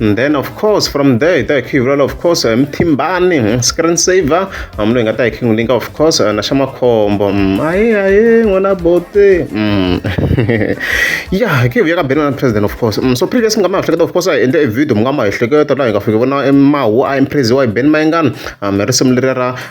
and then of course from there hi ta hi khiyivulala of course hi mithimbani hmm, screen saver hambi loyi nga ta hi khingu linka of course eh, na xa makhombo hmm, aye aye n'wana bote hmm. ya hi khe hi vuya ka beni na president of course so previous mi nga ma ehleketa of course hi endle e video mi nga ma ehleketa laha hi nga fiki vona e mahu a impresiwa hi beni mayengani mi risimu leri ra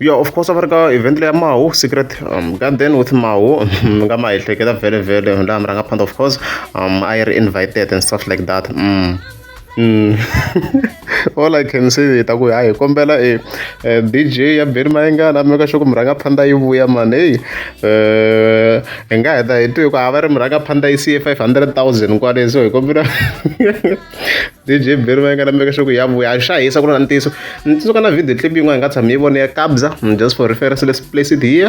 ya of course a va ri ka event leya mahu secret um, garden with mahu mi nga ma ehleketa vhele vhele laha mi rhanga phanda of course um, i ri invited and stuff like that mm. all I can say hi ta ku hayi hi kombela e DJ ya Benny Mayengana make sure ku murhangaphandha yi vuya mani heyi hi nga heta hi twi ku ha va ri murhangaphandha yi siye five hundred thousand kwale so hi kombela DJ Benny Mayengana make sure ku ya vuya a xa hisa ku ri na ntiyiso ni tsundzuka na video clip yin'wana hi nga tshami hi vone ya Kabza just for reference let's place it here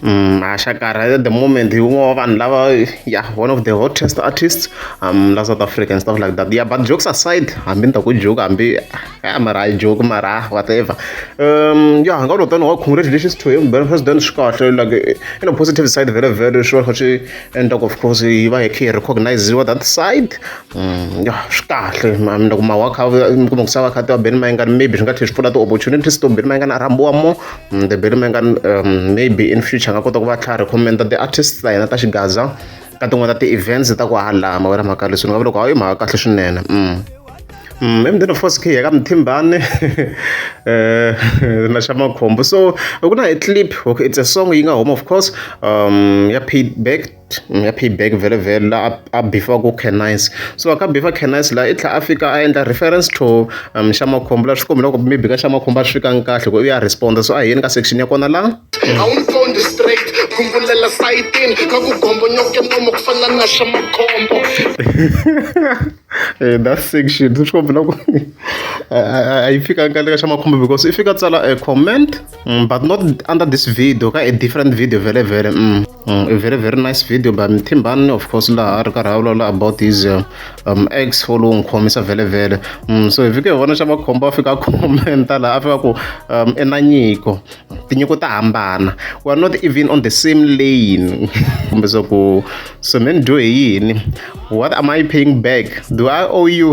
Mashakara at the moment hi un'we wa vanhu lava ya one of the hottest artists um la South Africa and stuff like that ya but jokes aside hambi ni ta ku joke hambi a mara hayi joke mara whatever um ya nga lo tani wa congratulations to him ben president swi kahle like in a positive side very very sure kha swi endla ku of course yi va hi kha yi recogniziwa that side um ya swi kahle ni ta ku mawa kha mi kuma ku sava kha ti wa ben mayengani maybe swi nga tlhela swi pfula ti-opportunities to ben mayengani a rhambiwa more Mm, the Billy Mangan um, maybe in future nga kota ku va tlhari commenta the artists ta hina ta xigaza ka tin'wana ta ti-events ta ku halama wena mhaka leswi ni nga va loko hayi mhaka kahle swinene mm. Mm, emdeni of course khiya ka mthimbane eh, na xa makhombo so ku na hi clip okay it's a song yi nga home of course um ya paid back ya payback vhele vhele la a a bifaku canines so a ka bifa canines la i tlhela a fika a endla reference to um xa makhombo la swi kombela ku maybe ka xa makhombo a swi fikanga kahle ku u ya respond so a hi yeni ka section ya kona la a wu nsondi straight khumbulela sayitini ka ku gombonyoke nomo ku fana na xa makhombo Eh, that section swi kombela ku a- a a yi fikanga kahle ka xa makhombo because i fika tsala a comment mm, but not under this video ka a different video vhele vhele mm. Mm, a very very nice video by mthimbani of course laha a ri karhi a vulavula about his uh, um, ex wo lowu n'wi khomisa vhele vhele mm, so hi fike hi vona xa makhombo a fika a commenta laha a fika ku um, i na nyiko tinyiko ta hambana we are not even on the same lane kumbe swa ku so me ni dyo hi yini what am i paying back do i owe you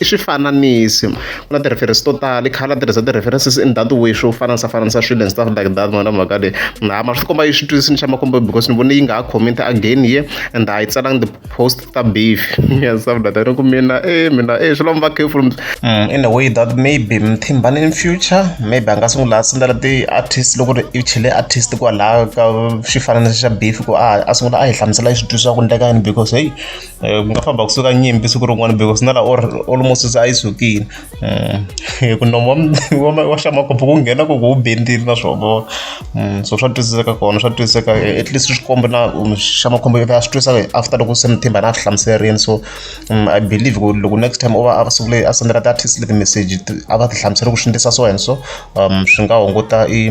I swifananisi. Ku na ti-reference to tala, i khale a tirhisa ti-references in that way swo fananisafananisa swilo and stuff like that ma vona mhaka leyi. Laha mara swi komba yi swi twisisile xa makombo because ni vone yi nga ha comment again ye and a yi tsalanga ti-post ta beef and stuff like that. Ni ku mina e mina e swi lava mi va careful. In a way that maybe Mthimbani in future maybe a nga sungula a sendela ti-artist loko ri i chele artist kwalaya ka xifananiso xa beef ku a a sungula a hi hlamusela hi swi twisisa ku endleka yini because heyi. um ku nga famba kusuka nyimpi siku rin'wana because na laha or almost se a yi sukile um eh, ku nomo wa xamakopo ku nghena ku ku wu bendile na swo vona um so swa twisiseka kona swa twisiseka eh, at least swikombo na um, xamakhombo a swi twisaka after loko se mithimba na a swi hlamuserini so um, i believe ku loko next time u va a siku leyi a sendela ti-artist leti message a va ti hlamusela ku swi ndlisa so and so um swi nga hunguta i